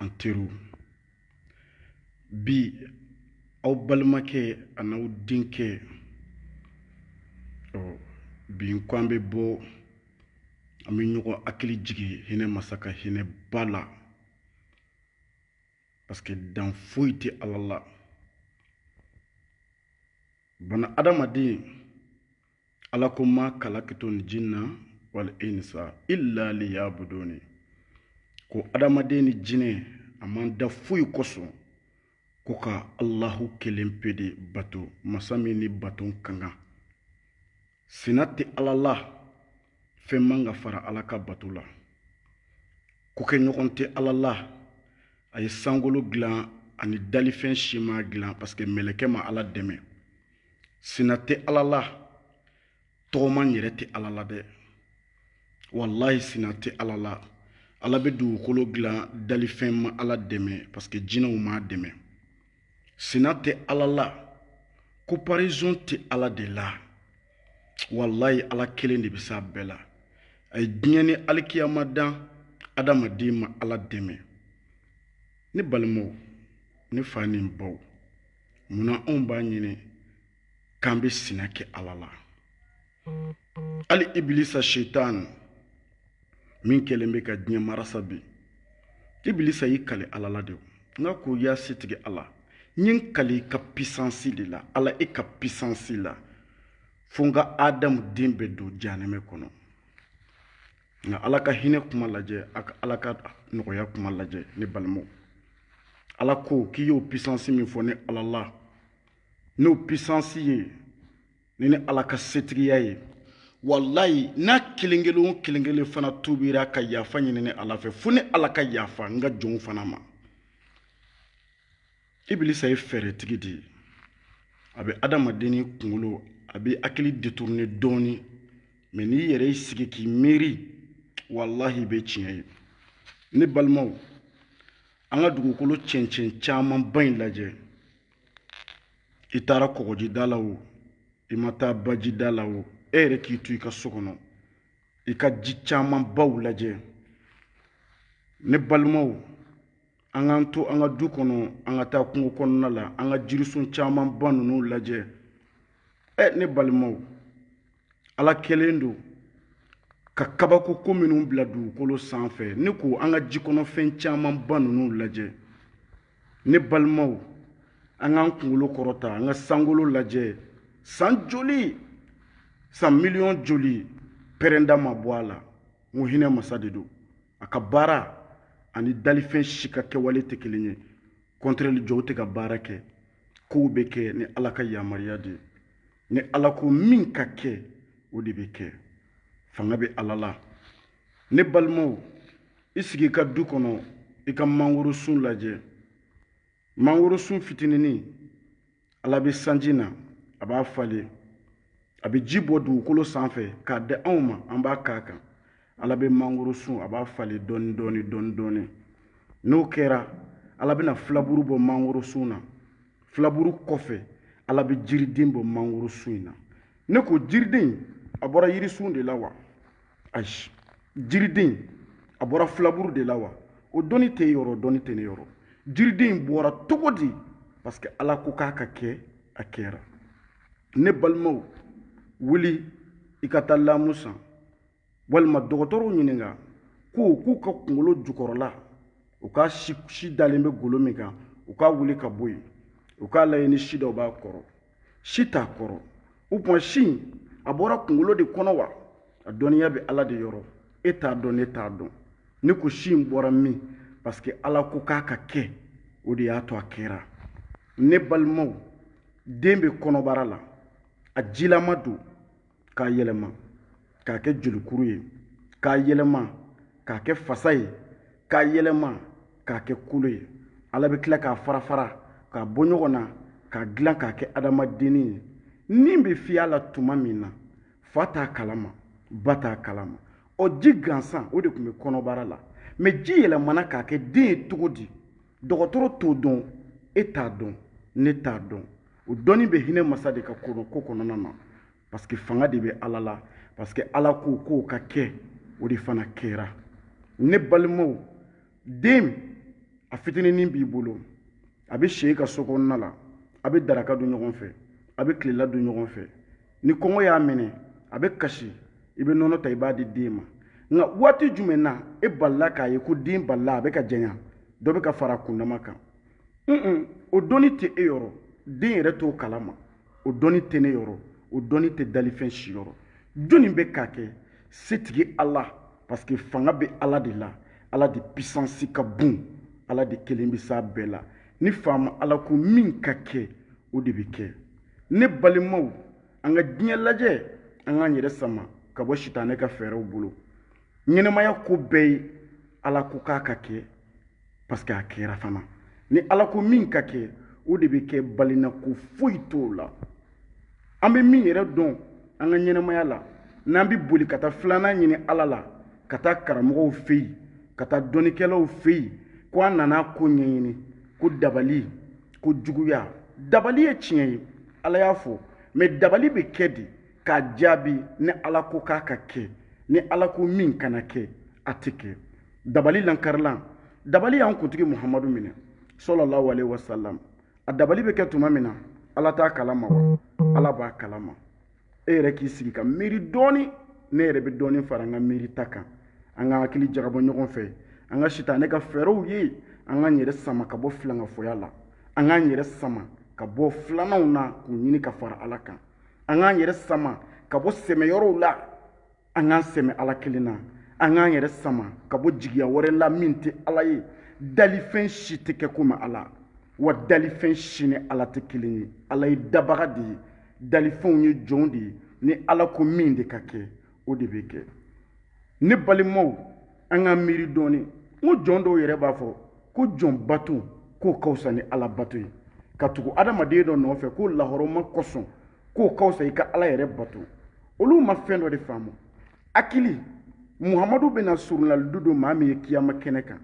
an teriw bi aw balimakɛ an'aw denkɛ ɔ bi n ko an bɛ bɔ an bɛ ɲɔgɔn hakili jigin hinɛ masa ka hinɛ ba la parce que dan foyi tɛ ala la bana adamaden ala ko ma kalakitul jinna wal insa illa liyabuduni ko adamaden ni jinɛ a m'an da foyi kosɔn ko ka allahu kelen pe de bato masa min ni bato ka kan sina tɛ ala la fɛn man ka fara ala ka bato la kokɛɲɔgɔn tɛ ala la a ye sankolo dilan a ni dalifɛn si m'a dilan parce que mɛlɛkɛ ma ala dɛmɛ sina tɛ ala la tɔgɔma yɛrɛ tɛ ala la dɛ walayi sina tɛ ala la ala bɛ dugukolo dilan dalifɛn ma ala dɛmɛ parce que jinɛw m'a dɛmɛ sina tɛ ala la comparaison tɛ ala de la walayi ala kelen de bɛ s'a bɛɛ la a ye diɲɛ ni alikiyama dan adamaden ma ala dɛmɛ ne balimaw ne fa ni n baw mun na anw b'a ɲini k'an bɛ sina kɛ ala la hali ibilisa setani min kɛlen bɛ ka diɲɛ marasa bi ibilisa y'i kale ala la de nka ko ya setigi ala n ye n kale i ka pisansi de la ala i ka pisansi la fo n ka adamu den bɛɛ don jahanɛmɛ kɔnɔ nka ala ka hinɛ kuma lajɛ a ka ala ka nɔgɔya kuma lajɛ ne balimaw ala ko k'i y'o pisansi min fɔ ne ala la n'o pisansi ye ni ne ala ka setigiya ye walayi n'a kelen kelen o kelen kelen fana tubira ka yafa ɲini ne ala fɛ fo ne ala ka yafa n ka jɔnw fana ma ibilisa ye fɛɛrɛtigi de ye a bɛ adamaden ni kunkolo a bɛ hakili detourne dɔɔni mɛ n'i yɛrɛ y'i sigi k'i miiri walahi i bɛ tiɲɛ ye ne balimaw an ka dugukolo cɛncɛn camanba in lajɛ i taara kɔgɔjida la o i ma taa bajida la o e yɛrɛ k'i to i ka so kɔnɔ i ka ji camanbaw lajɛ ne balimaw an k'an to an ka du kɔnɔ an ka taa kungo kɔnɔna la an ka jirisun camanba ninnu lajɛ ɛ ne balimaw ala kɛlen don ka kabako ko minnu bila dugukolo sanfɛ ne ko an ka jikɔnɔfɛn camanba ninnu lajɛ ne balimaw an k'an kunkolo kɔrɔta an ka sankolo lajɛ san joli san miliyɔn joli pɛrɛnda ma bɔ a la n ko hinɛ masa de don a ka baara ani dalifɛn si ka kɛwale tɛ kelen ye kɔntrɛli jɔw tɛ ka baara kɛ kow bɛ kɛ ni ala ka yamaruya de ye ni ala ko min ka kɛ o de bɛ kɛ fanga bɛ ala la ne balimaw i sigi i ka du kɔnɔ i ka mangoro sun lajɛ mangoro sun fitininin ala bɛ sanji na a b'a falen a bɛ ji bɔ dugukolo sanfɛ k'a di anw ma an b'a k'a kan ala bɛ mangoro sun a b'a falen dɔɔni dɔɔni dɔɔni dɔɔni n'o kɛra ala bɛna filaburu bɔ mangoro sun na filaburu kɔfɛ ala bɛ jiriden bɔ mangoro sun in na ne ko jiriden a bɔra yirisun de la wa ayi jiriden a bɔra filaburu de la wa o dɔnni t'e yɔrɔ dɔnni tɛ ne yɔrɔ jiriden in bɔra cogo di parce que ala ko k'a ka kɛ a kɛra ne balimaw wuli i ka taa lamu san walima dɔgɔtɔrɔw ɲininka ko k'u ka kungolo jukɔrɔla u ka si dalen bɛ golo min kan u k'a wuli ka bɔ yen u k'a lajɛ ni si dɔ b'a kɔrɔ si t'a kɔrɔ o tuma si a bɔra kunkolo de kɔnɔ wa a dɔnniya bɛ ala de yɔrɔ e t'a dɔn ne t'a dɔn ne ko si in bɔra min parce que ala ko k'a ka kɛ o de y'a to a kɛra ne balimaw den bɛ kɔnɔbara la a jilama don k'a yɛlɛma k'a kɛ jolikuru ye k'a yɛlɛma k'a kɛ fasa ye k'a yɛlɛma k'a kɛ kolo ye ala bɛ tila k'a fara fara k'a bɔ ɲɔgɔn na k'a dilan k'a kɛ adamadenni ye nin bɛ fiy'a la tuma min na fa t'a kalama ba t'a kalama o ji gansan o de tun bɛ kɔnɔbara la mɛ ji yɛlɛmana ka kɛ den ye cogo di dɔgɔtɔrɔ t'o dɔn e t'a dɔn ne t'a dɔn o dɔnni bɛ hinɛ masa de ka ko kɔnɔna na parce que fanga de bɛ ala la parce que ala ko k'o ka kɛ o de fana kɛra ne balimaw den a fitininin b'i bolo a bɛ si i ka so kɔnɔna la a bɛ daraka dun ɲɔgɔn fɛ a bɛ tilela dun ɲɔgɔn fɛ ni kɔngɔ y'a minɛ a bɛ kasi i bɛ nɔnɔ ta i b'a di den ma nka waati jumɛn na e balila k'a ye ko den balila a bɛ ka janya dɔ bɛ ka fara a kundama kan un o dɔnni tɛ e yɔrɔ den yɛrɛ t'o kalama o dɔnni tɛ ne yɔrɔ o dɔnni tɛ dalifɛn si yɔrɔ jɔnni bɛ k'a kɛ setigi ala parce que fanga bɛ ala de la ala de pisansi ka bon ala de kelen bɛ s'a bɛɛ la ni faama ala ko min ka kɛ o de bɛ kɛ ne balimaw an ka diɲɛ lajɛ an k'an yɛrɛ sama ka bɔ sitanɛ ka fɛɛrɛw bolo ɲɛnamaya ko bɛɛ ye ala ko k'a ka kɛ parce que a kɛra fana ni ala ko min ka kɛ o de bɛ kɛ balina ko foyi t'o la an bɛ min yɛrɛ dɔn an ka ɲɛnamaya la n'an bɛ boli ka taa filanan ɲini ala la ka taa karamɔgɔw fɛ yen ka taa dɔnnikɛlaw fɛ yen ko an nana ko ɲɛɲini ko dabali ko juguya dabali ye tiɲɛ ye ala y'a fɔ mais dabali bɛ kɛ de k'a jaabi ni ala ko k'a ka kɛ ni ala ko min kana kɛ a tɛ kɛ dabali lankarilan dabali y'an kuntigi muhamadu minɛ sallallahu alaihi wasallam a dabali bɛ kɛ tuma min na ala t'a kalama wa ala b'a kalama e yɛrɛ k'i sigi ka miiri dɔɔni ne yɛrɛ bɛ dɔɔni fara an ka miiri ta kan an ka hakili jagabɔ ɲɔgɔn fɛ an ka sitanɛ ka fɛɛrɛw ye an k'an yɛrɛ sama ka bɔ filankafoya la an k'an yɛrɛ sama ka bɔ filananw na k'u ɲini ka fara ala kan an k'an yɛrɛ sama ka bɔ sɛmɛyɔrɔw la an k'an sɛmɛ ala kelen na an k'an yɛrɛ sama ka bɔ jigiya wɛrɛ la min tɛ ala ye dalifɛn si tɛ kɛ komi ala wa dalifɛn si ni ala tɛ kelen ye ala ye dabaga de ye dalifɛnw ye jɔnw de ye ni ala ko min de ka kɛ o de bɛ kɛ ne balimaw an ka miiri dɔɔnin n ko jɔn dɔw yɛrɛ b'a fɔ ko jɔn bato k'o ka wusa ni ala bato ye ka tugu adamaden dɔ nɔfɛ k'o lahɔrɔma kosɔn k'o ka wusa i ka ala yɛrɛ bato olu ma fɛn dɔ de faamu hakili muhamadu bɛna surunlalidu don maa min ye kiyama kɛnɛ kan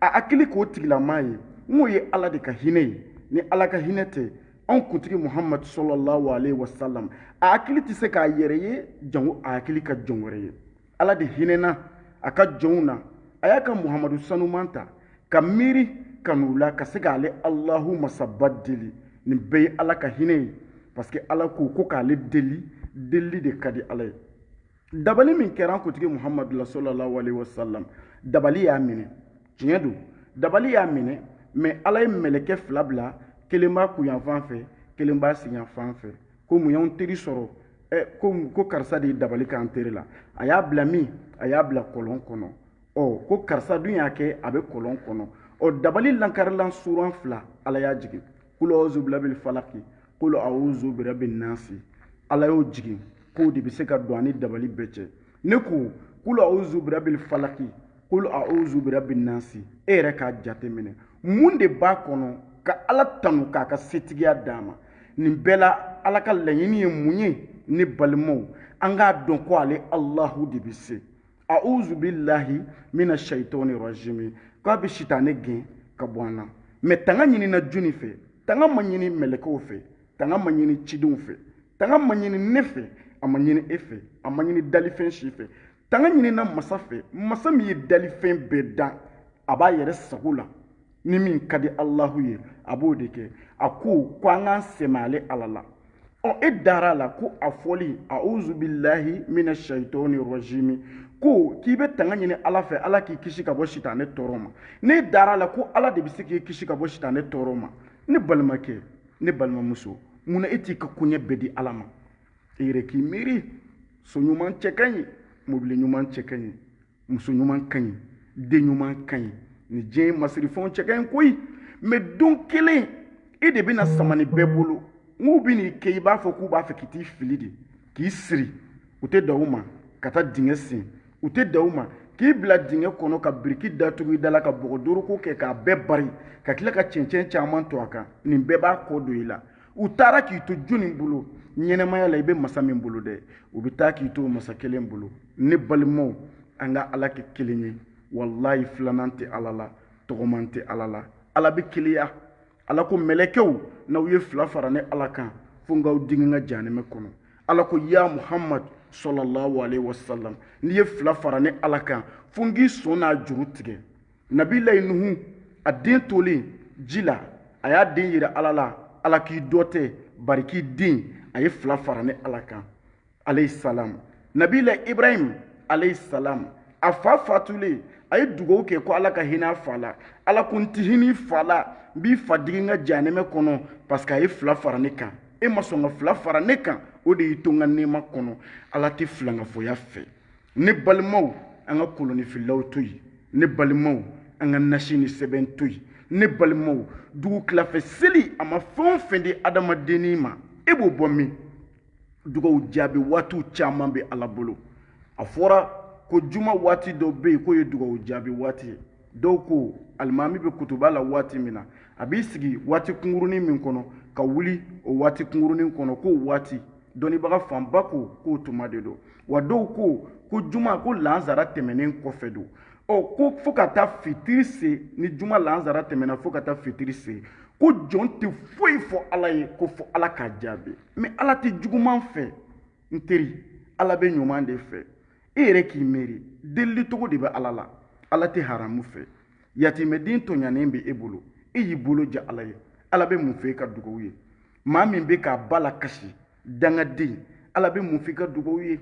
a hakili k'o tigilamaa ye n'o ye ala de ka hinɛ ye ni ala ka hinɛ tɛ anw kuntigi muhamadu sallallahu alaihi wasallam a hakili tɛ se k'a yɛrɛ ye jango a hakili ka jɔn wɛrɛ ye ala de hinɛna a ka jɔnw na a y'a ka muhamadu sanuman ta ka miiri ka n'u la ka se k'ale alahu masaba deli nin bɛɛ ye ala ka hinɛ ye parce que ala ko ko k'ale deli delili de ka di ala ye dabali min kɛra an kuntigi muhamadu la sallallahu alaihi wasallam dabali y'a minɛ tiɲɛ don dabali y'a minɛ mais ala ye mɛlɛkɛ fila bila kelen b'a kunyanfan fɛ kelen b'a senyanfan fɛ ko mun y'anw teri sɔrɔ ɛ ko ko karisa de ye dabali k'an teri la a y'a bila min a y'a bila kɔlɔn kɔnɔ ɔ ko karisa dun y'a kɛ a bɛ kɔlɔn kɔnɔ ɔ dabali lankarilan suran fila ala y'a jigin kul awuzu birabil falaki kul awuzu birabin nasi ala y'o jigin k'o de bɛ se ka don an ni dabali bɛɛ cɛ ne ko kul awuzu birabil falaki kul awuzu birabin nasi e yɛrɛ k'a jateminɛ mun de b'a kɔnɔ ka ala tanu k'a ka setigiya d'a ma nin bɛɛ la ala ka laɲini ye mun ye ne balimaw an k'a dɔn ko ale alahu de bɛ se a'uzu billahi mina shaitani rajimi k'a bɛ sitanɛ gɛn ka bɔ an na mɛ tanga ɲinina jɔni fɛ tanga ma ɲini mɛlɛkɛw fɛ tanga ma ɲini cidenw fɛ tanga ma ɲini ne fɛ a ma ɲini e fɛ a ma ɲini dalifɛn si fɛ tanga ɲinina masa fɛ masa min ye dalifɛn bɛɛ dan a b'a yɛrɛ sago la ni min ka di alahu ye a b'o de kɛ a ko ko an k'an sɛmɛ ale ala la ɔ e dara a la ko a fɔli auzu bilahi mina shaitɔni rɔjimi ko k'i bɛ tanga ɲini ala fɛ ala k'i kisi ka bɔ sitanɛ tɔɔrɔ ma ne dara a la ko ala de bɛ se k'i kisi ka bɔ sitanɛ tɔɔrɔ ma ne balimakɛ ne balimamuso mun na e t'i ka koɲɛ bɛɛ di ala ma e yɛrɛ k'i miiri so ɲuman cɛ ka ɲi mobili ɲuman cɛ ka ɲi muso ɲuman ka ɲi den ɲuman ka ɲi ni diɲɛ masirifɛnw cɛ ka ɲi koyi mɛ don kelen e de bɛna sama nin bɛɛ bolo u bɛ n'i kɛ i b'a fɔ k'u b'a fɛ k'i t'i fili de k'i siri u tɛ dan o ma ka taa dingɛ sen u tɛ dan o ma k'i bila dingɛ kɔnɔ ka biriki datugu i dala ka bɔgɔ doroko kɛ k'a bɛɛ bari ka tila ka cɛncɛn caman to a kan nin bɛɛ b'a kɔ don i la u taara k'i to jɔni bolo ɲɛnamaya la i bɛ masa min bolo dɛ u bɛ taa k'i to masa kelen bolo ne balimaw an ka ala kɛ kelen ye walayi filanan tɛ ala la tɔgɔman tɛ ala la ala bɛ keleya ala ko mɛlɛkɛw n'aw ye fila fara ne ala kan fo n k'aw digi n ka janɛmɛ kɔnɔ ala ko ya muhamadu sɔlɔlɔhu alehi wasalam n'i ye fila fara ne ala kan fo n k'i sɔn na juru tigɛ nabilayi nuhu a den tolen ji la a y'a den yira ala la ala k'i dɔ tɛ bari k'i den a ye fila fara ne ala kan alayhi salam nabilayi ibrahim alayhi salam a fa fatulen a ye dugawu kɛ ko ala ka hinɛ a fa la ala ko n ti hinɛ i fa la n b'i fa digi n ka janɛmɛ kɔnɔ parce que a ye fila fara ne kan e ma sɔn ka fila fara ne kan o de y'i to n ka nɛɛma kɔnɔ ala tɛ filankafoya fɛ ne balimaw an ka kolonifilaw to yen ne balimaw an ka nasi ni sɛbɛn to yen ne balimaw dugu tilafɛ seli a ma fɛn o fɛn di adamadenni ma e b'o bɔ min dugawu jaabi waatiw caman bɛ ala bolo a fɔra ko juma waati dɔ bɛ yen k'o ye dugawu jaabi waati ye dɔw ko alimami bɛ kutuba la waati min na a b'i sigi waati kunkurunin min kɔnɔ ka wuli o waati kunkurunin kɔnɔ k'o waati dɔnnibaga fanba ko k'o tuma de don wa dɔw ko ko juma ko lansara tɛmɛnen kɔfɛ don ɔ ko fo ka taa fitiri se ni juma lansara tɛmɛna fo ka taa fitiri se ko jɔn tɛ foyi fɔ ala ye ko fo ala k'a jaabi mɛ ala tɛ juguman fɛ n teri ala bɛ ɲuman de fɛ e yɛrɛ k'i miiri delili cogo de bɛ ala la ala tɛ haramu fɛ yatimɛden tɔɲanen bɛ e bolo e y'i bolo ja ala ye ala bɛ mun fɛ i ka dugawu ye maa min bɛ k'a ba lakasi dangaden ala bɛ mun fɛ i ka dugawu ye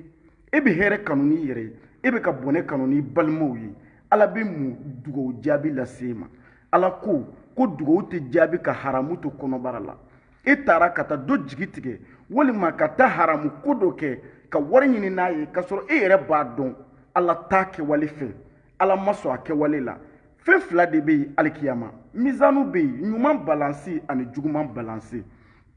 e bɛ hɛrɛ kanu n'i yɛrɛ ye e bɛ ka bɔnɛ kanu n'i balimaw ye ala bɛ mun dugawu jaabi lase e ma ala ko ko dugawu tɛ jaabi ka haramu to kɔnɔbara la e taara ka taa dɔ jigi tigɛ walima ka taa haramu ko dɔ kɛ ka wari ɲini n'a ye k'a sɔrɔ e yɛrɛ b'a dɔn ala t'a kɛwale fɛ ala ma sɔn a kɛwale la fɛn fila de bɛ yen alikiyama mizanu bɛ yen ɲuman balansi ani juguman balansi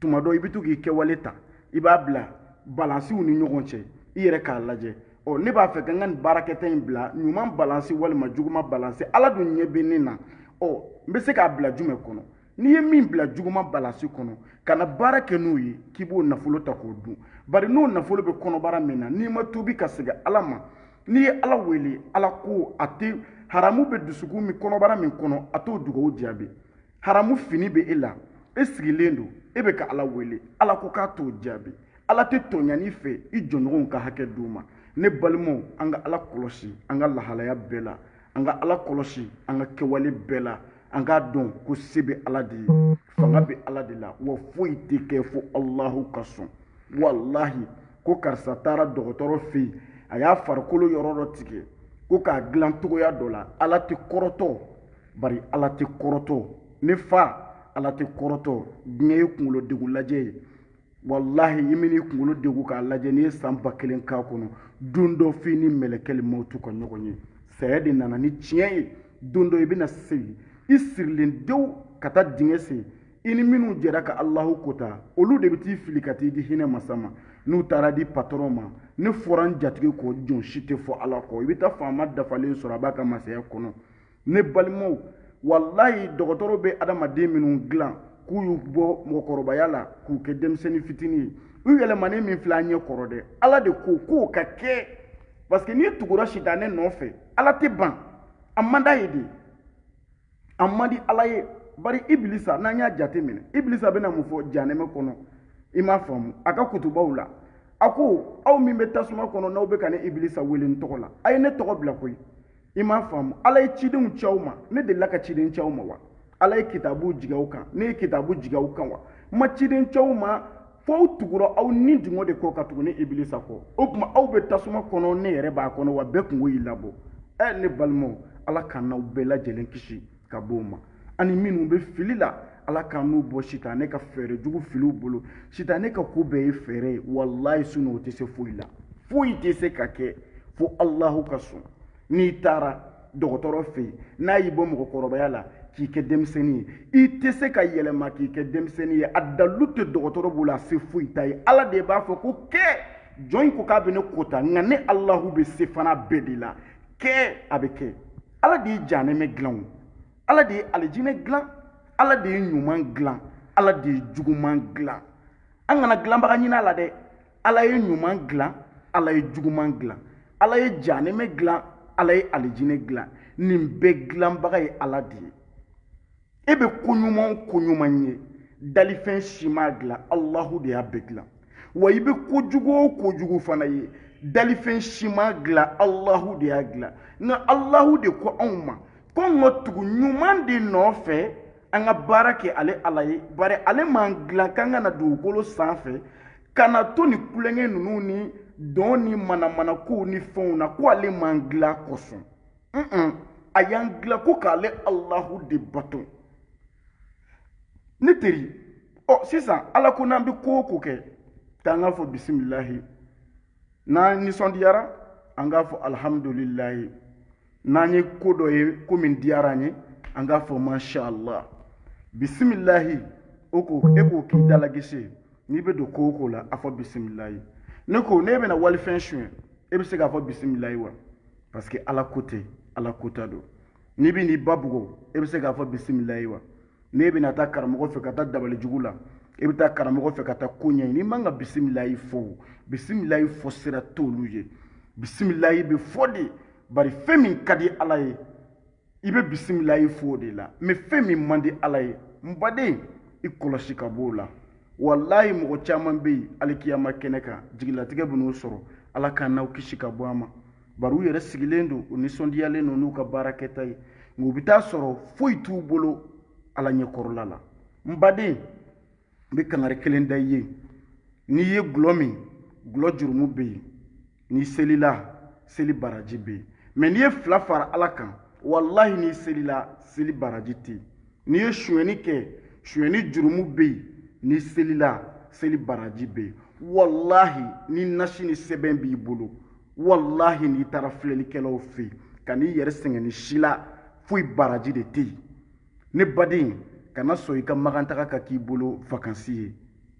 tuma dɔ i bɛ to k'i kɛwale ta i b'a bila balansiw ni ɲɔgɔn cɛ i yɛrɛ k'a lajɛ ɔ ne b'a fɛ ka n ka nin baarakɛta in bila ɲuman balansi walima juguman balansi ala dun ɲɛ bɛ ne na ɔ n bɛ se k'a bila jumɛn kɔnɔ n'i ye min bila juguman balansi kɔnɔ kana baara kɛ n'o ye k'i b'o nafolo ta k'o dun bari n'o nafolo bɛ kɔnɔbara min na n'i ma tuubi ka segin ala ma n'i ye ala wele ala ko a tɛ haramu bɛ dusukun min kɔnɔbara min kɔnɔ a t'o dugawu jaabi haramu fini bɛ e la e sigilen don e bɛ ka ala wele ala ko k'a t'o jaabi ala tɛ tɔɲani fɛ i jɔɲɔgɔnw ka hakɛ d'u ma ne balimaw an ka ala kɔlɔsi an ka lahalaya bɛɛ la an ka ala kɔlɔsi an ka kɛwale bɛɛ la an k'a dɔn ko se bɛ ala de ye fanga bɛ ala de la wa foyi tɛ kɛ fo alahu ka sɔn walahi ko karisa taara dɔgɔtɔrɔ fɛ yen a y'a farikolo yɔrɔ dɔ tigɛ ko k'a dilan cogoya dɔ la ala tɛ kɔrɔtɔ bari ala tɛ kɔrɔtɔ ne fa ala tɛ kɔrɔtɔ diɲɛ ye kunkolo degun lajɛ ye walahi i man'i kunkolo degu k'a lajɛ n'i ye san ba kelen k'a kɔnɔ don dɔ f'i ni mɛlɛkɛli mawutu ka ɲɔgɔn ye saya de nana ni tiɲɛ ye don dɔ i bɛna segin i sirilen dew ka taa dingɛ sen i ni minnu jɛra ka alahu kota olu de bɛ t'i fili ka t'i di hinɛ masa ma n'u taara di patɔrɔn ma ne fɔra n jatigi kɔ jɔn si tɛ fɔ ala kɔ i bɛ taa faama dafalen sɔrɔ a b'a ka masaya kɔnɔ ne balimaw walayi dɔgɔtɔrɔ bɛ adamaden minnu dilan k'u y'u bɔ mɔgɔkɔrɔbaya la k'u kɛ denmisɛnnin fitinin ye u yɛlɛmanen min filɛ an ɲɛ kɔrɔ dɛ ala de ko k'o ka kɛ parce que n'i tugura sitanɛ nɔfɛ ala tɛ ban a man d'a ye dɛ a man di ala ye bari ibilisa n'an y'a jate minɛ ibilisa bɛna mun fɔ janɛmɛ kɔnɔ i m'a faamu a ka kutubaw la a ko aw min bɛ tasuma kɔnɔ n'aw bɛ ka ne ibilisa wele n tɔgɔ la a ye ne tɔgɔ bila koyi i m'a faamu ala ye cidenw ci aw ma ne delila ka ciden ci aw ma wa ala ye kitabu jigi aw kan ne ye kitabu jigi aw kan wa n ma ciden ci aw ma fo aw tugura aw nidungɔ de kɔ ka tugu ne ibilisa kɔ o tuma aw bɛ tasuma kɔnɔ ne yɛrɛ b'a kɔnɔ wa bɛɛ kunko y'i labɔ ɛ ne balimaw ala k'an n'aw bɛɛ lajɛlen kisi ka bɔ o ma ani minnu bɛ fili la ala k'an n'u bɔ sitanɛ ka fɛɛrɛ jugu filiw bolo sitanɛ ka ko bɛɛ ye fɛɛrɛ ye walayi sinon o tɛ se foyi la foyi tɛ se ka kɛ fo alahu ka sɔn n'i taara dɔgɔtɔrɔ fɛ yen n'a y'i bɔ mɔgɔkɔrɔbaya la k'i kɛ denmisɛnnin ye i tɛ se ka yɛlɛma k'i kɛ denmisɛnnin ye a dalu tɛ dɔgɔtɔrɔ bolo a se foyi t'a ye ala de b'a fɔ ko kɛ jɔn in ko k'a bɛ ne kota nka ne alahu bɛ se fana bɛɛ de la kɛ a bɛ kɛ ala de ye janɛmɛ dilan o ala de ye alijinɛ dilan ala de ye ɲuman dilan ala de ye juguman dilan an kana dilanbaga ɲini a la dɛ ala ye ɲuman dilan ala ye juguman dilan ala ye janɛmɛ dilan ala ye alijinɛ dilan nin bɛɛ dilanbaga ye ala de ye e bɛ ko ɲuman o ko ɲuman ye dalifɛn si m'a dilan alahu de y'a bɛɛ dilan wa i bɛ kojugu o kojugu fana ye dalifɛn si m'a dilan alahu de y'a dilan nka alahu de ko anw ma ko an ka tugu ɲuman de nɔfɛ an ka baara kɛ ale ala ye bari ale m'an dilan k'an ka na dugukolo sanfɛ ka na to nin tulonkɛ ninnu ni dɔn ni manamanakow ni fɛnw na ko ale m'an dilan o kosɔn a y'an dilan ko k'ale alahu de bato ne teri ɔ sisan ala ko n'an bɛ ko o ko kɛ k'an k'a fɔ bisimilahi n'an nisɔndiyara an k'a fɔ alihamudulilayi n'an ye ko dɔ ye ko min diyara an ye an k'a fɔ mashallah bisimilahi o ko e k'o k'i dalagese n'i bɛ don ko o ko la a fɔ bisimilayi ne ko ne bɛna walifɛn suɲɛ e bɛ se k'a fɔ bisimilayi wa parce que ala ko tɛ ala kota don n'i bɛ n'i ba bugɔ e bɛ se k'a fɔ bisimilayi wa n'e bɛna taa karamɔgɔ fɛ ka taa dabali jugu la e bɛ taa karamɔgɔ fɛ ka taa ko ɲɛɲini i man ka bisimilayi fɔ bisimilayi fɔ sira t'olu ye bisimilayi bɛ fɔ de bari fɛn min ka di ala ye i bɛ bisimilayi fɔ o de la mɛ fɛn min man di ala ye n baden i kɔlɔsi ka b'o la walayi mɔgɔ caman bɛ yen alikiyama kɛnɛ kan jigilatigɛ bɛ n'u sɔrɔ ala k'an n'aw kisi ka bɔ a ma bari u yɛrɛ sigilen don u nisɔndiyalen don n'u ka baara kɛta ye nka u bɛ t'a sɔrɔ foyi t'u bolo ala ɲɛkɔrɔla la n baden n bɛ kangari kelen da i ye n'i ye gulɔ min gulɔ jurumu bɛ yen n'i selila seli baraji bɛ yen mɛ n'i ye fila fara ala kan walahi n'i selila seli baraji tɛ yen n'i ye sonyɛni kɛ sonyɛni jurumu bɛ yen n'i selila seli baraji bɛ yen walahi ni nasi ni sɛbɛn b'i bolo walahi n'i taara filɛlikɛlaw fɛ yen ka n'i yɛrɛ sɛgɛn nin si la foyi baraji de tɛ yen ne baden kana sɔn i ka magantaga ka k'i bolo vakansi ye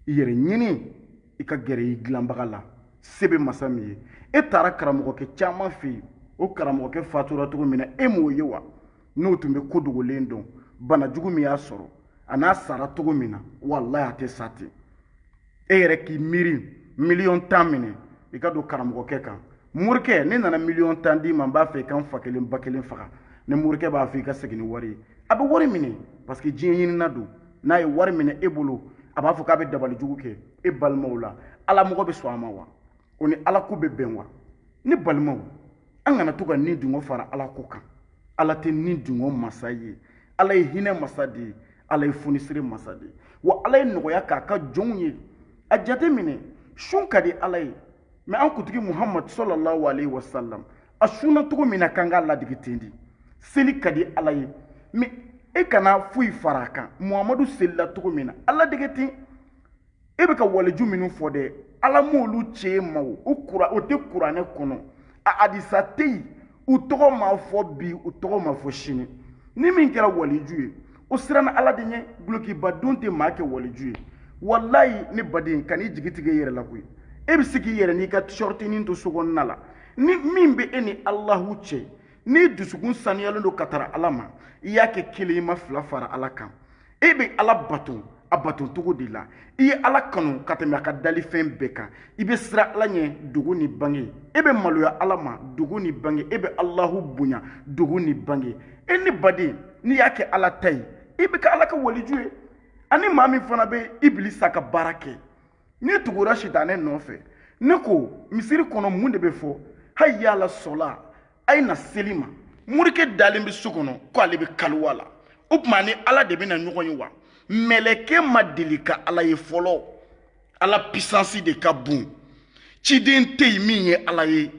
i yɛrɛ ɲini i ka gɛrɛ i dilanbaga la se bɛ masa min ye e taara karamɔgɔkɛ caman fɛ yen o karamɔgɔkɛ fatura cogo min na e m'o ye wa n'o tun bɛ ko dogolen dɔn bana jugu min y'a sɔrɔ an'a sara cogo min na walayi a tɛ sa ten e yɛrɛ k'i miiri miliyɔn tan minɛ i ka don karamɔgɔkɛ kan morikɛ ne nana miliyɔn tan d'i ma n b'a fɛ i ka n fa kelen ba kelen faga ni morikɛ b'a fɔ i ka segin ni wari ye a bɛ wari minɛ parce que diɲɛ ɲinina don n'a ye wari minɛ e bolo a b'a fɔ k'a bɛ dabali jugu kɛ e balimaw la ala mɔgɔ bɛ sɔn a ma wa o ni ala ko bɛ bɛn wa ne balimaw an kana to ka ni dungo fara ala ko kan ala tɛ ni dungo masa ye ala ye hinɛ masa de ye ala ye funisire masa de ye wa ala ye nɔgɔya k'a ka jɔnw ye a jate minɛ sun ka di ala ye mɛ an kuntigi muhamadu sɔlɔlahu alayhi wa salam a sunna cogo min na k'an k'a ladege ten de seli ka di ala ye mɛ e kana foyi fara a kan muhamadu selila cogo min na a ladege ten e bɛ ka waliju minnu fɔ dɛ ala m'olu ci e ma o tɛ kuranɛ kɔnɔ a hadisa tɛ yen u tɔgɔ ma fɔ bi u tɔgɔ ma fɔ sini ni min kɛra waliju ye o siranna ala de ɲɛ dulokiba don tɛ maa kɛ waliju ye walayi ne baden kan'i jigi tigɛ i yɛrɛ la koyi e bɛ se k'i yɛrɛ n'i ka shɔrtinin to so kɔnɔna la ni min bɛ e ni alahu cɛ n'i dusukun saniyalen don ka tara ala ma i y'a kɛ kelen i ma fila fara ala kan e bɛ ala bato a bato cogo de la i ye ala kanu ka tɛmɛ a ka dalifɛn bɛɛ kan i bɛ siran ala ɲɛ dogo ni bange e bɛ maloya ala ma dogo ni bange e bɛ alahu bonya dogo ni bange e ne baden n'i y'a kɛ ala ta ye i bɛ kɛ ala ka waliju ye ani maa min fana bɛ ibilisa ka baara kɛ n'i tugura sitanɛ nɔfɛ ne ko misiri kɔnɔ mun de bɛ fɔ hayya ala sɔla a ye na seli ma morikɛ dalen bɛ so kɔnɔ ko ale bɛ kaliwa la o tuma ni ala de bɛna ɲɔgɔn ye wa mɛlɛkɛ ma deli ka ala ye fɔlɔ ala pisansi de ka bon ciden tɛ yen min ye ala ye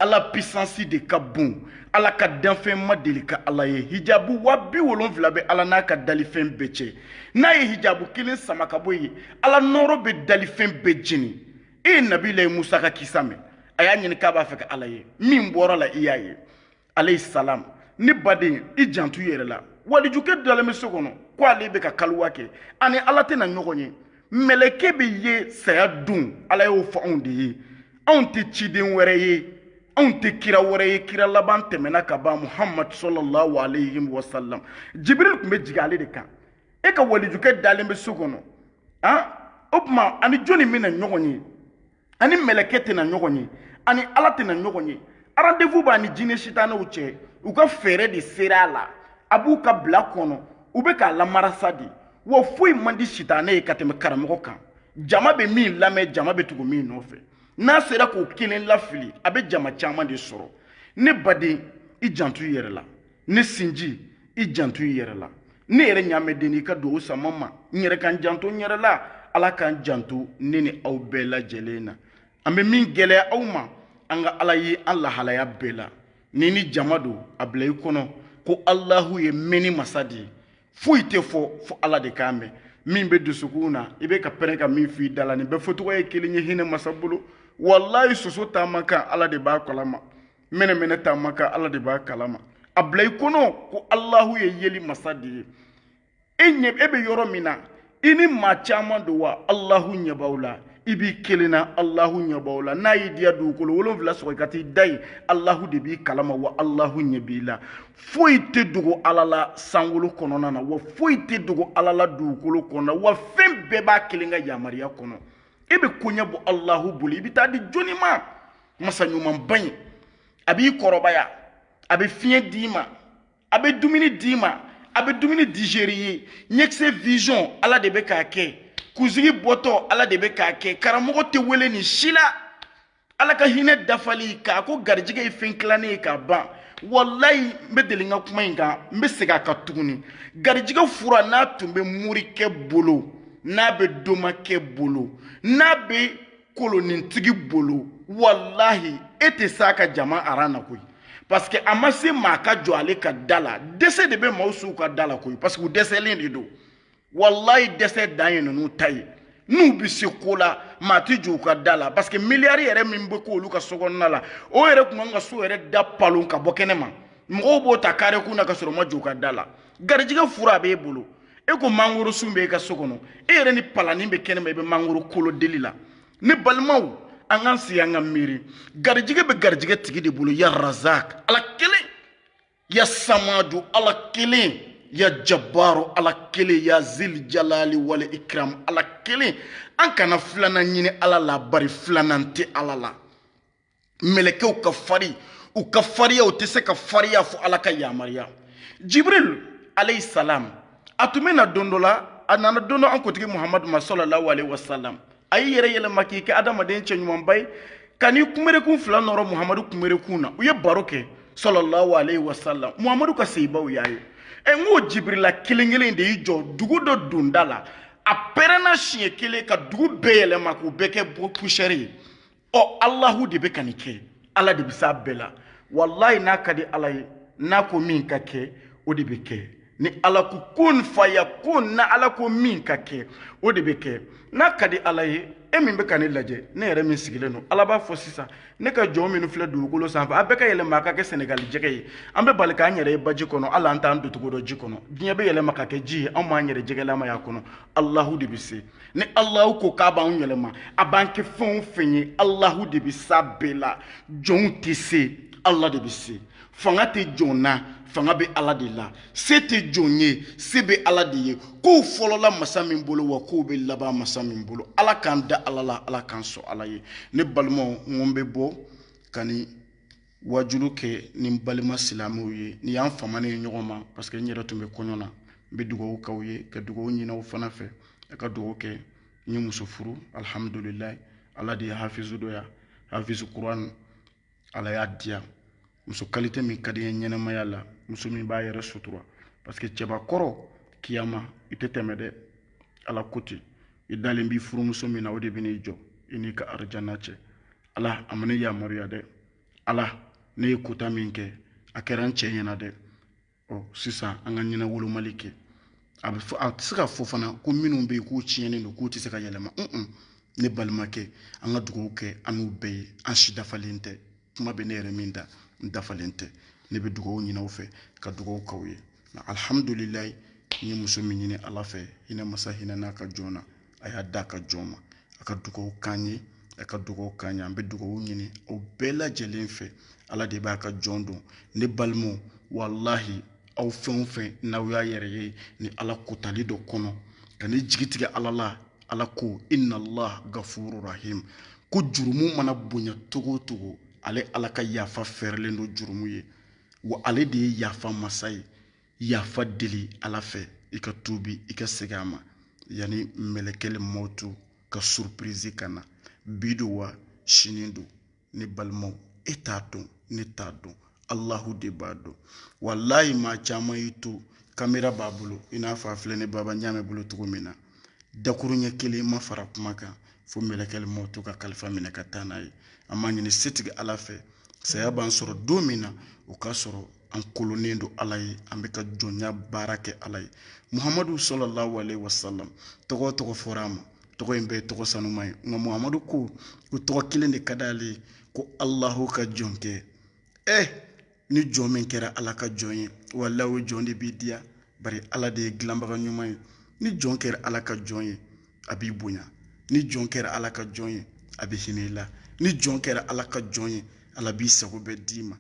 ala pisansi de ka bon ala ka danfɛn ma deli ka ala ye hijabu wa bi wolonfila bɛ ala n'a ka dalifɛn bɛɛ cɛ n'a ye hijabu kelen sama ka bɔ yen ala nɔɔrɔ bɛ dalifɛn bɛɛ jeni e ye nabilayi musa ka kisa mɛn a y'a ɲini k'a b'a fɛ ka ala ye min bɔr'a la i y'a ye alayhi salam ne baden i janto i yɛrɛ la walijukɛ dalen bɛ so kɔnɔ ko ale bɛ ka kaliwa kɛ a ni ala tɛna ɲɔgɔn ye mɛlɛkɛ bɛ ye saya don ala y'o fɔ anw de ye anw tɛ ciden wɛrɛ ye anw tɛ kira wɛrɛ ye kira laban tɛmɛna ka ban muhamadu sɔlɔlahu alayhi wa salam jibiril tun bɛ jigin ale de kan e ka walijukɛ dalen bɛ so kɔnɔ han o tuma a ni jɔnni bɛna ɲɔgɔn ye a ni mɛlɛkɛ tɛna ɲɔgɔn ye a ni ala tɛna ɲɔgɔn ye rendez-vous b'a ni jinɛ sitanɛw cɛ u ka fɛɛrɛ de sera a la a b'u ka bila kɔnɔ u bɛ k'a lamarasa de wa foyi man di sitanɛ ye ka tɛmɛ karamɔgɔ kan jama bɛ min lamɛn jama bɛ tugu min nɔfɛ n'a sera k'o kelen lafili a bɛ jama caman de sɔrɔ ne baden i janto i yɛrɛ la ne sinji i janto i yɛrɛ la ne yɛrɛ ɲaamɛden i ka dugawu sama n ma n yɛrɛ ka n janto n yɛrɛ la ala k'an janto ne ni aw bɛɛ lajɛlen na an bɛ min gɛlɛya aw ma an ka ala ye an lahalaya bɛɛ la n'i ni jama don a bila i kɔnɔ ko alahu ye mɛnni masa de ye foyi tɛ fɔ fo ala de k'a mɛn min bɛ dusukun na i bɛ ka pɛrɛn ka min f'i da la nin bɛɛ fɔcogo ye kelen ye hinɛ masa bolo walahi soso taama kan ala de b'a kalama mɛnɛmɛnɛ taama kan ala de b'a kalama a bila i kɔnɔ ko alahu ye yeli masa de ye e ɲɛ e bɛ yɔrɔ min na i ni maa caman don wa alahu ɲɛ b'aw la i b'i kelen na alahu ɲɛ b'aw la n'a y'i diya dugukolo wolonfila sɔgɔ i ka t'i da yen alahu de b'i kalama wa alahu ɲɛ b'i la foyi tɛ dogo ala la sankolo kɔnɔna na wa foyi tɛ dogo ala la dugukolo kɔnɔna na wa fɛn bɛɛ b'a kelen ka yamaruya kɔnɔ e bɛ koɲɛ bɔ alahu bolo i bɛ taa di jɔnni ma masa ɲumanba in a b'i kɔrɔbaya a bɛ fiɲɛ d'i ma a bɛ dumuni d'i ma a bɛ dumuni digérer i ye ɲɛkisɛ vision ala de bɛ k'a kɛ kunsigi bɔtɔ ala de bɛ k'a kɛ karamɔgɔ tɛ wele nin si la ala ka hinɛ dafali k'a ko garijɛgɛ ye fɛn tilannen ye ka ban walayi n bɛ deli ka kuma in kan n bɛ segin a kan tuguni garijɛgɛ fura n'a tun bɛ morikɛ bolo n'a bɛ domakɛ bolo n'a bɛ kolonintigi bolo walahi e tɛ s'a ka jama aran na koyi parce que a ma se maa ka jɔ ale ka da la dɛsɛ de bɛ maaw s'u ka da la koyi parce que u dɛsɛlen de don walahi dɛsɛ dan ye ninnu ta ye n'u bɛ se ko la maa tɛ jɔ u ka da la parce que miliyari yɛrɛ min bɛ k'olu ka so kɔnɔna la o yɛrɛ tun kan ka so yɛrɛ da palon ka bɔ kɛnɛ ma mɔgɔw b'o ta kare kun na ka sɔrɔ u ma jɔ u ka da la garijɛgɛ fura a b'e bolo e ko mangoro sun bɛ e ka so kɔnɔ e yɛrɛ ni palanin bɛ kɛnɛma i bɛ mangoro kolo deli la ne balimaw an k'an sigi an ka miiri garijɛgɛ bɛ garijɛgɛ tigi de bolo ya razak ala kelen ya samadu ala kelen ya jabaru ala kelen ya zil jalali wal ikram ala kelen an kana filanan ɲini ala la bari filanan tɛ ala la mɛlɛkɛw ka fari u ka fariya u tɛ se ka fariya fo ala ka yamaruya jibril alayhi salam a tun bɛ na don dɔ la a nana don dɔ an kuntigi muhamadu ma sallallahu alayhi wa salam a y'i yɛrɛ yɛlɛma k'i kɛ adamaden cɛ ɲumanba ye ka n'i kunberekun fila nɔrɔ muhamadu kunberekun na u ye baro kɛ sallallahu alayhi wa salam muhamadu ka sahabaw y'a ye ɛ n ko jibirila kelen kelen de y'i jɔ dugu dɔ donda la a pɛrɛnna siɲɛ kelen ka dugu bɛɛ yɛlɛma k'u bɛɛ kɛ poussière ye ɔ alahu de bɛ ka nin kɛ ala de bɛ s'a bɛɛ la walayi n'a ka di ala ye n'a ko min ka kɛ o de bɛ kɛ ni ala ko kun fayakun n'ala ko min ka kɛ o de bɛ kɛ n'a ka di ala ye e min bɛ ka ne lajɛ ne yɛrɛ min sigilen don ala b'a fɔ sisan ne ka jɔn minnu filɛ dugukolo sanfɛ a bɛɛ ka yɛlɛma a ka kɛ sɛnɛgali jɛgɛ ye an bɛ bali k'an yɛrɛ ye baji kɔnɔ hali an t'an doncogo dɔn ji kɔnɔ diɲɛ bɛ yɛlɛma ka kɛ ji ye anw b'an yɛrɛ jɛgɛlama y'a kɔnɔ alahu de bɛ se ni alahu ko k'a b'anw yɛlɛma a b'an kɛ fɛn o fɛn ye alahu de bɛ s'a bɛɛ la jɔnw tɛ se ala de bɛ se fanga tɛ jɔn na fanga bɛ ala de la se tɛ jɔn ye se bɛ ala de ye kow fɔlɔla masa min bolo wa kow bɛ laban masa min bolo ala k'an da ala la ala k'an sɔn ala ye ne balimaw n ko n bɛ bɔ ka nin wajulu kɛ ni n balima silamɛw ye nin y'an famanen ye ɲɔgɔn ma parce que n yɛrɛ tun bɛ kɔɲɔ na n bɛ dugawu k'aw ye ka dugawu ɲin'aw fana fɛ a ka dugawu kɛ n ye muso furu alihamudulilayi ala de ye hafizu dɔ ya hafizu kuran ala y'a diya muso qualité min ka di n ye ɲɛnɛmaya la muso min b'a yɛrɛ sutura parce que cɛbakɔrɔ kiyama i tɛ tɛmɛ dɛ ala ko ten i dalen b'i furumuso min na o de bɛ n'i jɔ i n'i ka arijana cɛ ala a ma ne yamaruya dɛ ala ne ye kota min kɛ a kɛra n cɛ ɲɛna dɛ ɔ sisan an ka ɲɛnawolomali kɛ a bɛ fɔ a tɛ se ka fɔ fana ko minnu bɛ yen k'u tiɲɛnen don k'u tɛ se ka yɛlɛma un ne balimakɛ an ka dugawu kɛ an n'u bɛɛ ye an si dafalen tɛ kuma bɛ ne yɛrɛ min da n dafalen tɛ ne bɛ dugawu ɲini aw fɛ ka dugawu k'aw ye alihamudulilayi n ye muso min ɲini ala fɛ hinɛ masa hinɛna a ka jɔn na a y'a d'a ka jɔn ma a ka dugawu k'an ye a ka dugawu k'an ye an bɛ dugawu ɲini aw bɛɛ lajɛlen fɛ ala de b'a ka jɔn dɔn ne balimaw walahi aw fɛn o fɛn n'aw y'a yɛrɛ ye ni ala kotali dɔ kɔnɔ kan'i jigi tigɛ ala la ala ko inna allah gafuru rahim ko jurumu mana bonya cogo o cogo ale ala ka yafa fɛrɛlen don jurumu ye wa ale de ye yafa masa ye yafa deli ala fɛ i ka tuubi i ka segin a ma yanni mɛlɛkɛli mɔtu ka surpirizi ka na bi don wa sini don ne balimaw e t'a dɔn ne t'a dɔn alahu de b'a dɔn walayi maa caman y'i to kamera b'a bolo i n'a fɔ a filɛ ne baba ɲaamɛ bolo cogo min na dakuruɲɛ kelen ma fara kuma kan fo mɛlɛkɛli mɔtu ka kalifa minɛ ka taa n'a ye an b'a ɲini setigi ala fɛ saya b'an sɔrɔ don min na o k'a sɔrɔ an kolonnen don ala ye an bɛ ka jɔnya baara kɛ ala ye muhamadu salalahu alayihi wasalam tɔgɔ o tɔgɔ fɔra a ma tɔgɔ in bɛɛ ye tɔgɔ sanuma ye nka muhamadu ko ko tɔgɔ kelen de ka d'ale ye ko alahu ka jɔnkɛ ɛ eh, ni jɔn min kɛra ala ka jɔn ye walayi o jɔn de b'i diya bari ala de ye dilanbaga ɲuman ye ni jɔn kɛra ala ka jɔn ye a b'i bonya ni jɔn kɛra ala ka jɔn ye a bɛ hinɛ i la ni jɔn kɛra ala ka jɔn ye ala b'i sago bɛɛ d'i ma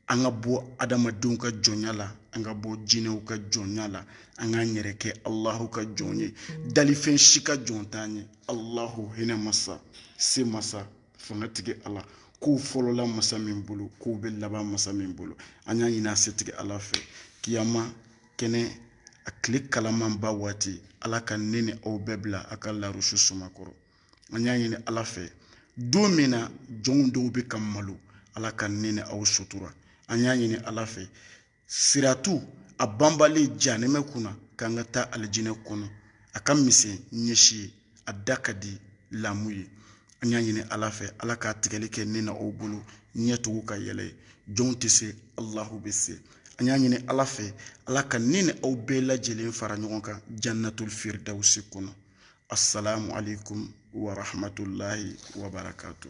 an ka bɔ adamadenw ka jɔnya la an ka bɔ jinɛw ka jɔnya la an k'an yɛrɛ kɛ alahu ka jɔn ye dalifɛn si ka jɔn t'an ye alahu hinɛ masa se masa fangatigi ala kow fɔlɔla masa min bolo kow bɛ laban masa min bolo an y'a ɲini a setigi ala fɛ kiyama kɛnɛ a tile kalamanba waati ala ka ne ni aw bɛɛ bila a ka larusi suma kɔrɔ an y'a ɲini ala fɛ don min na jɔnw dɔw bɛ ka malo ala ka ne ni aw sutura an y'a ɲini ala fɛ siratu a banbalen janɛmɛ kunna k'an ka taa alijinɛ kɔnɔ a ka misɛn ɲɛsi ye a da ka di lamu ye an y'a ɲini ala fɛ ala k'a tigɛli kɛ ne ni aw bolo ɲɛtugu ka yɛlɛ ye jɔnw tɛ se alahu bɛ se an y'a ɲini ala fɛ ala ka ne ni aw bɛɛ lajɛlen fara ɲɔgɔn kan jannatul firdawusi kɔnɔ asalaamualeykum wa rahmatulahi wa barakatu.